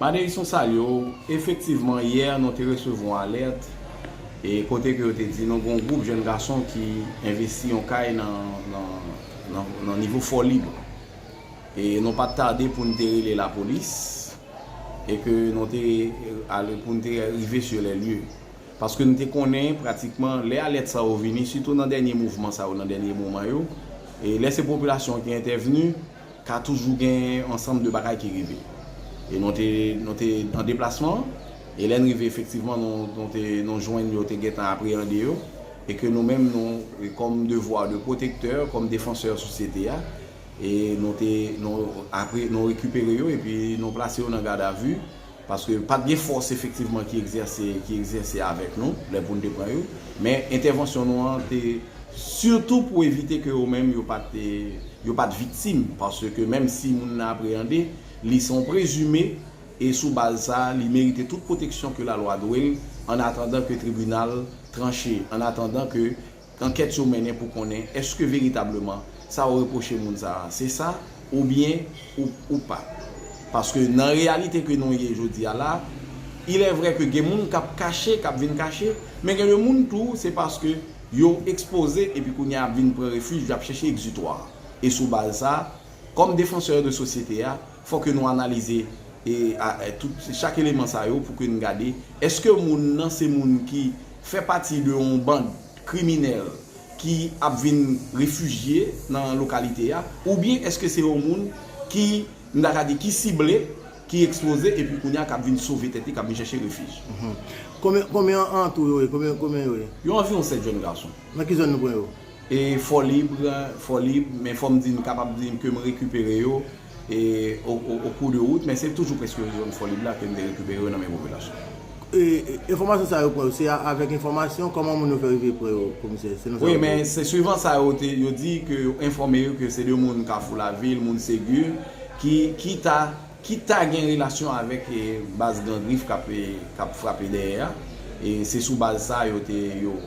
Madeison Salyo, Efektivman yè nou te resevwa yon alèt e kote ke yo te di nou gen yon gwoup jèn gason ki envesti yon kay nan nivo Fò Lib e nou pat tade pou nou te rele lapolis e ke nou te ale pou nou te rive sur les lieux paske nou te konnen pratikman lè alèt sa yo vini sitou nan dènye mouvman sa yo nan dènye moman yo e lè se popilasyon ki entèvni. Ka toujou gen yon ansanm de bagay ki rive. E nou te, nou te an deplasman, e lè n rive efektivman nou, nou te, nou jwenn yo te gentan apreyande yo, e ke nou menm nou, kòm devwa de pwotektè, kòm defansè sosyete a, e nou te, nou, apre, nou rekipere yo, epi nou plase yo nan gadavi. Paske pa t gen fòs efektivman ki egzèse ki egzèse avèk nou lè pou n te pran yo. Men entèvansyon nou an te sitou pou evite ke yo menm yo pa t yo pa t viktim. Paske menm si moun nan apreyande, li se yon prezime e sou baz sa a li merite tout pwoteksyon ke lalwa dwe l annatandan ke tribinal tranche, annatandan ke Ankèt yo mennen pou konnen èske veritableman sa ou repwoche moun sa a se sa oubyen ou pa. Paske nan reyalite ke nou ye jodi a la, ilèvrè ke gen moun k ap kache, k ap vin kache, men gen de moun tou se paske yo ekspoze epi kounye a y ap vin pran refij, y ap chèche egzitwa. E sou baz sa, kòm defansè de sosyete a, Fò ke nou analize tout chak eleman sa yo pou ke n gade eske moun nan se moun ki fè pati de yon band kriminèl ki ap vin refijye nan lokalite a oubyen eske se yon moun ki m ta ka di ki sible, ki ekspoze epi kounye a k ap vin sove tèt li, k ap vin chèche refij. Konbyen an tou yo ye? Yo anviwon 7 jèn gason. Nan ki zòn nou pran yo? E fò libre, fò lib, men fò m di n kapab di ke m rekipere yo e o kou de wout, men se toujou preske zòn fò lib la ke m te rekipere yo nan men popilasyon. E enfòmasyon sa yo pran yo, se avèk enfòmasyon? Kòman moun yo fè rive pran yo komisè, selon sa yo di? Wi, men se swivan sa yo te, yo di ke yo enfòme yo ke se de moun kafou lavil, moun Segur ki ta. ki ta gen relasyon avèk baz Gran Grif k ap frape dèyè a, e se sou baz sa yo te yo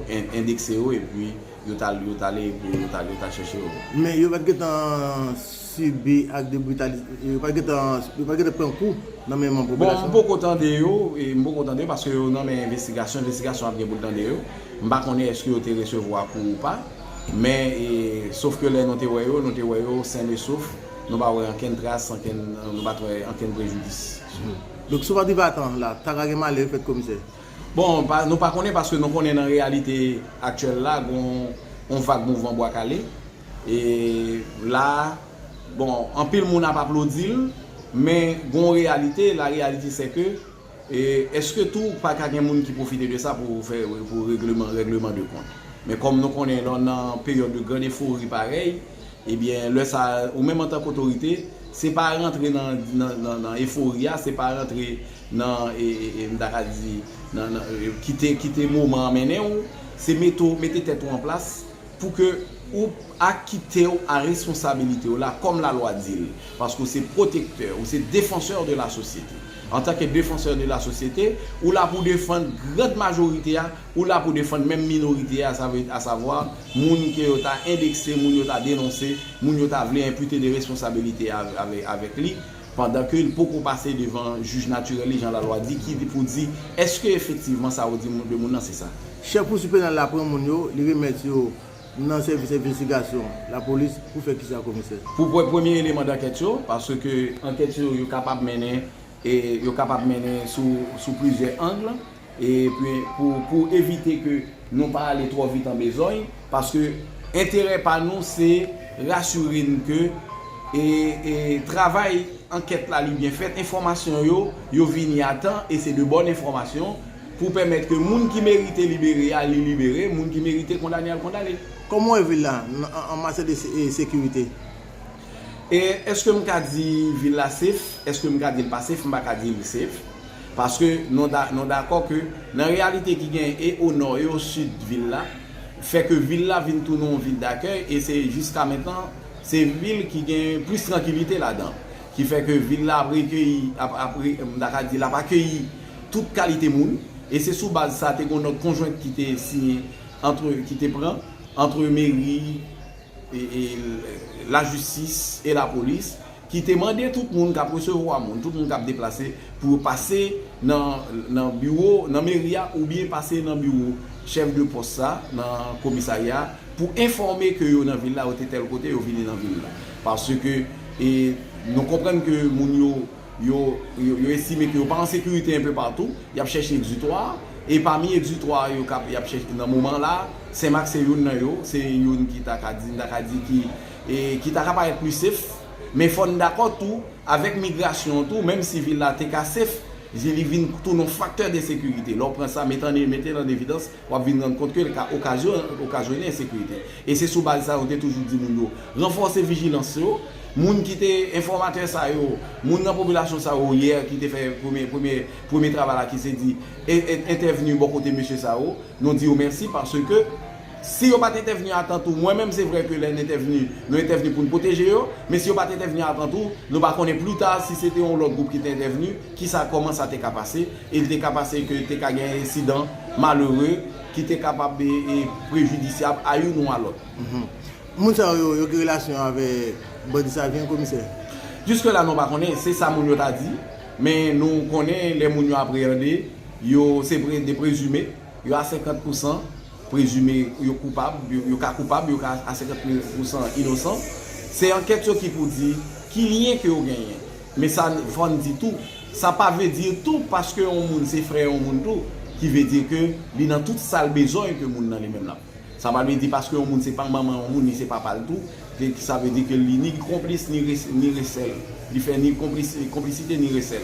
endekse yo epi yo t al yo t ale pou yo ta yo ta chèche yo. Men yo pa t gentan sibi ak de britali yo pa t gentan yo pa t gentan pran kou nan men manm popilasyon an? Bon, m poko tande yo, m poko tande yo paske yo nan men envestigasyon, envestigasyon ap gen pou l tande yo. M pa konnen èske yo te resevwa kou ou pa, men e sof ke lè nou te wè yo, nou te wè yo sen e sof. Nou pa wè ankenn tras, ankenn, nou pa t wè ankenn prejidis. Donk si w pa te vatan la, ta ka gen malè fèt komisè? Bon, nou pa konnen paske nou konnen nan reyalite aktyèl la gon yon vag mouvman bwa kale. E la, bon, anpil moun ap aplodi l, men gon yon reyalite, la reyalite sè ke E eske tou pa ka gen moun ki pwofite de sa pou fè pou regleman règleman de kont. Men kòm nou konnen lè w nan peryòd de grand efori parèy, ebyen lè sa a ou menm antank otorite, se pa rantre nan nan efori a, se pa rantre nan m ta ka di nan nan kite kite moman an mennen w, se mete w mete tèt ou an plas, Pou ke ou akite ou a responsabilite ou la kòm la lwa di l, paske ou se pwotektè, ou se defansè de la sosyete. Antanke defansè de la sosyete, ou la pou defann grand majorite a, ou la pou defann menm minorite a, sa vle a savwa, moun ke yo ta endekse, moun yo ta denonse, moun yo ta vle enpute de responsabilite avèk li, pandan ke li poko pase devan jij natirèl li jan lalwa di ki pou di eske efektivman sa ou di de moun nan se sa. Chèf kou si penal la pran moun yo li remèt yo nan sèvis envestigasyon lapolis pou fè kisa komisè? Pou pwè premye eleman dankèt yo paske ankèt yo yo kapab mennen e yo kapab mennen sou sou plizyè angle. E pi pou evite ke nou pa ale twò vit an bezogn, paske enterè pa nou se rasire n ke travay ankèt la li byen fèt, enfòmasyon yo, yo vini a tan e se de bòn enfòmasyon pou pèmèt ke moun ki merite libere a li libere, moun ki merite kondane a l kondane. Kòman w wè vil la an matyè de sekirite? Eske m ka di vil la safe? Eske m ka di l pa safe? M pa ka di li safe. Paske nou dakò ke nan reyalite ki genyen e o nò e o sid vil la, fè ke vil la vin tounen yon vil dakèy e se jiska mentnan se vil ki gen plis trankilite ladan. Ki fè ke vil la ap rekeyi, m ta ka di l ap akeyi tout kalite moun. E se sou baz sa te gen yon nòt konjwent ki te siyen, ki te pran antre meri, lajistis e lapolis ki te mande tout moun k ap resevwa moun, tout moun k ap deplase pou yo pase nan biwo, nan meri a oubyen pase nan biwo chèf de pòs sa nan komisarya a pou enfòme ke yo nan vil la, yo te tèl kote, yo vini nan vil la. Paske nou konprann ke moun yo. Yo yo estime ke yo pa an sekirite enpe patou, y ap chèche egzitwa, e pami egzitwa yo k ap y ap chèche nan moman la, Senmak se youn nan yo, se youn ki ta ka di, m ta ka di ki e ki ta ka parèt pli sef, men fò n dakò tou, avèk migrasyon an tou, menm si vil la te ka sef, li vin tounen yon faktè de sekirite, lè w pran sa, mete an mete l an evidans. w ap vin rann kont ke l ka okazyone ensekirite. E se sou baz sa yo te toujou di moun yo ranfòse vijilans yo. Moun ki te enfòmatè sa yo, moun nan popilasyon sa yo yè ki te fè premye travay la ki se di entèvni bò kote mesye sa yo, nou di yo mèsi paske si yo pa t entèvni atan tou, mwen menm se vre ke lè n entèvni, nou entèvni pou n pwoteje yo, men si yo pa t entèvni atan tou, nou pa konnen plita si se te yon lòt gwoup ki te entèvni, Kisa, kòman sa te ka pase? E li te ka pase ke te ka gen ensidan malere ki te kapab e prejidisyab a youn ou a lòt. Moun sa yo, yo gen relasyon avèk bandi Savyen, Komisè? Jiske la nou pa konnen. Se sa moun yo ta di. Men nou konnen lè moun yo apreyande, yo se de prezime. Yo a senkant pou san prezime yo koupab. Yo ka koupab, yo ka a senkant pou san inosan. Se ankèt yo ki pou di ki lyen ke yo genyen. Men sa n fòn di tou, sa pa vle di tou paske yon moun se frè yon moun tou ki vle di ke li nan tout sa l bezwen ke moun nan li menm l ap. Sa pa vle di paske yon moun se pa manman yon moun li se papa l tou ke sa vle di ke li ni konplis ni ni resèl li fè ni konplis konplisite ni resèl.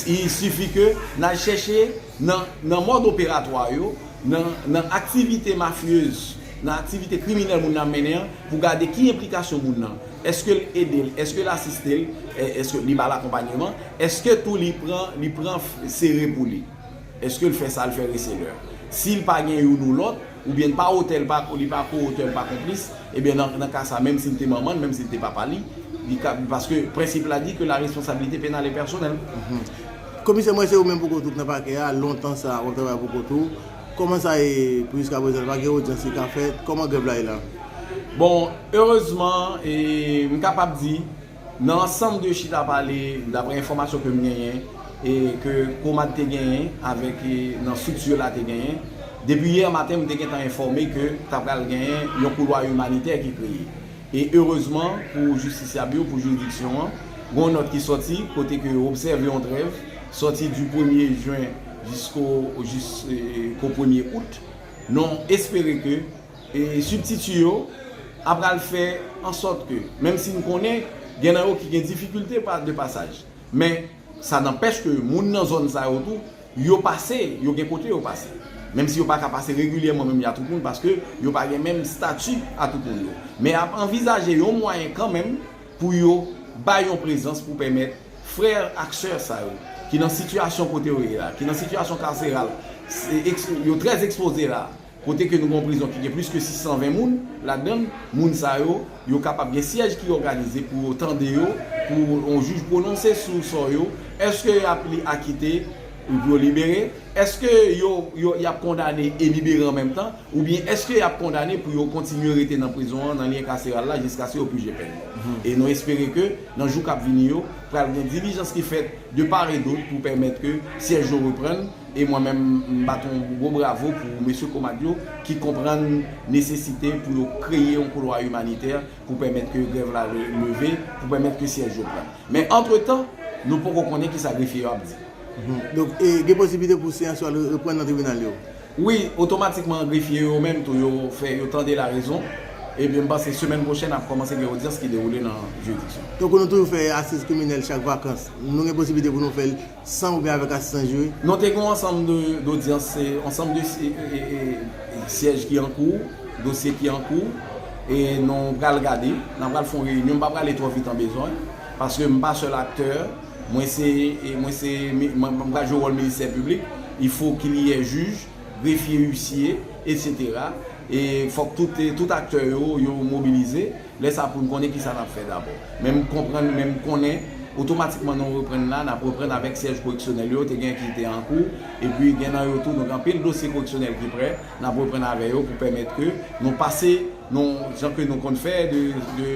I sifi ke n al chèche nan nan mòd operatwa yo, nan nan aktivite mafyez, nan aktivite kriminèl moun nan ap mennen an pou gade ki enplikasyon moun nan. Eske l ede l? Eske l asiste l? Eske li ba l akonpanyeman? Eske tou li pran li pran sere pou li? Eske l fè sa l fè reselè? Si l pa gen youn ou lòt, oubyen l pa otè, li pa ko-otè, li pa konplis, ebyen nan nan ka sa, menm si l te manman l, menm si l te papa li, li ka, paske prensip la di ke la responsabilité pénale est personnelle. Komisè mwen se ou menm pou kont ou k nan pakè a lontan sa wap travay pou kont ou. Koman sa ye pou jiska prezan pa gen odyans ki ka fèt? Koman grèv la ye la? Bon, erezman, m kapab di, nan ansanm de chita pale, daprè enfòmasyon ke m genyen, e ke Komad te genyen avèk nan strikti yo la te genyen, depi yè maten m te gentan enfòme ke ta pral genyen yon koulwa imanitè ki kreye. E erezman pou jistisyab yo, pou jiridiksyon an, gen yon nòt ki sòti kote ke yo obsève yon trèv sòti di premye jen, jisko jis ko premye out non espere ke sibtiti yo a pral fè ansòt ke menm si n konnen gen nan yo ki gen difikilte de pasaj men sa nanpèch ke moun nan zòn sa yo tou yo pase yo gen kote yo pase menm si yo pa ka pase regilyèman menm jan a tout moun paske yo pa gen menm stati a tout moun yo men ap anvizaje yon mwayen kanmenm pou yo bay yon prezans pou pèmèt frè ak sè sa yo ki nan sitiyasyon kote yo ye la, ki nan sitiyasyon karseral, yo trè ekspoze la, kote ke nou gen yon prizon ki gen plis ke 620 moun ladan l, moun sa yo, yo kapab gen syèj ki òganize pou yo tande yo, pou yon jij pwononse sou sò yo, èske y ap li akite epi yo libere, èske yo y ap kondane e libere an menm tan. Oubyen èske y ap kondane pou yo kontinye rete nan prizon an, nan lyen kaseral la, jiskaske yo pije pèn yo? E nou espere ke, nan jou k ap vini yo, pral gen dilijans ki fèt de part et d'autre pou pèmèt ke syèj yo reprann, e mwen menm m bat yon gwo bravo pou mesye COMADT yo ki konprann nesesite pou yo kreye yon koulwa imanitè pou pèmèt ke grèv la leve, pou pèmèt ke syèj yo pran. Men antretan, nou poko konnen kisa grefye yo ap di. Donk, gen posiblite pou seyans yo al reprann nan tribinal yo? Wi, otomatikman grefye yo menm tou yo fè yo tande larezon, epi m panse semèn pwochèn ap kòmanse gen odyans ki dewoule nan jiridiksyon. Tankou nou toujou fè asiz kriminèl chak vakans, nou gen posiblite pou nou fè l san oubyen avèk asistans jiri? Non, te gen yon ansanm de odyans, se ansanm de syèj ki an kou, dosye ki an kou, e nou pral gade, n a pral fè yon reyinyon, m pa prale twò vit an bezwen, paske m pa sèl aktè. Mwen se, mwen se, mwen pral jwe wòl ministè piblik, il faut qu'il y ait juge, greffier, huissier, etc. E fòk tout, tout aktè yo, yo mobilize. Lè sa pou n konnen kisa n ap fè dabò. Men m konprann, men m konnen otomatikman nou reprann la, n ap reprann avèk syèj koreksyonèl yo, te gen ki te an kou, epi gen nan yo tou, donk anpil dosye koreksyonèl ki prè, n ap reprann avè yo pou pèmèt ke nou pase, nou, jan ke nou konn fè de, de.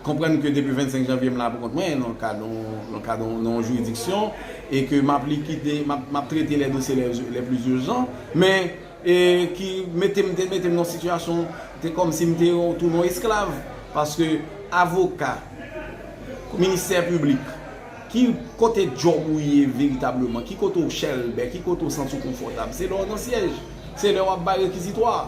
Konprann ke depi 25 janvye m la pou kont mwen, nan kad yon, nan kad yon, nan yon jiridiksyon, e ke m ap likide, m ap, m ap trete lè dosye lè, lè pli urjan, men, e ki mete m, te mete m nan yon sitiyasyon, te kòm si m te yon, tounen yon esklav, paske avoka, ministè piblik, ki kote djòb ou ye veritableman, ki kote ou chèlbè, ki kote ou santi w konfòtab, se lè w nan syèj, se lè w ap bay rekizitwa.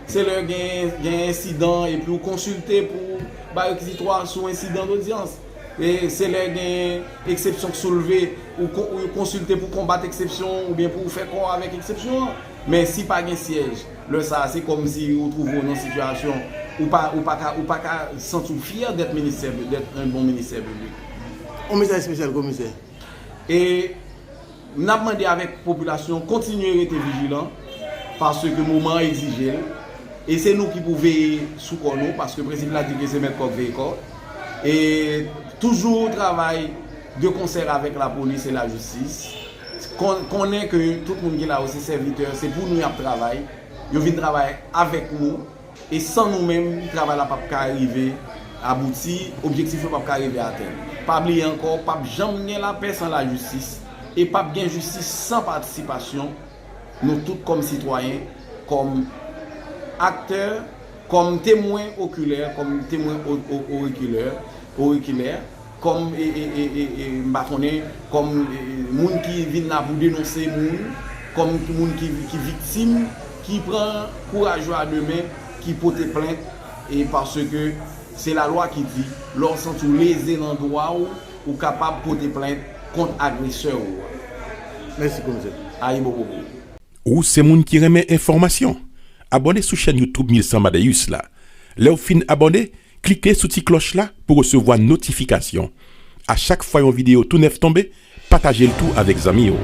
Se lè gen ensidan epi ou konsilte pou bay rekizitwa sou ensidan lodyans. Se lè gen eksepsyon k soulve, ou konsilte pou konbat eksepsyon an oubyen pou ou fè kò avèk eksepsyon an. Men si pa gen syèj, lè sa a se kòm si ou twouve w nan yon sitiyasyon ou pa ka santi w fyè dèt bon ministè piblik. Komisè espesyal komisè. E n ap mande avèk popilasyon kontinye rete vijilan paske moman an egzije l. E se nou ki pou veye sou kò nou paske prensip la di ke se mèt kòk veye kò. E toujou travay de konsèr avèk lapolis e lajistis. Konnen ke tout moun ki la yo se sèvitè, se pou nou y ap travay. Yo vin travay avèk nou. E san nou menm, travay la pap ka rive abouti, objektif yo pap ka rive atenn. Pa bliye ankò, pap janm gen lapè san lajistis, e pap gen jistis san patisipasyon nou tout kòm sitwayen, kòm aktè, kòm temwen okilè, kòm temwen orikilè, auriculaire. Kòm m pa konnen, kòm moun ki vin la pou denonse moun, kòm moun ki viktim, ki pran kouraj yo a de men, ki pote plent, e paske se lalwa ki di, lè w santi w leze nan dwa w, ou kapab pote plent kont agresè ou a. Mèsi komisè. Ayibopopo. Ou se moun ki renmen enfòmasyon? Abòne sou chèn YouTube 1100 Madaeus la. Lèw fin abòne, Klike sou ti klòch la pou resevwa notifikasyon a chak fwa yon videyo tou nèf tonbe, pataje l tou avèk zanmi w.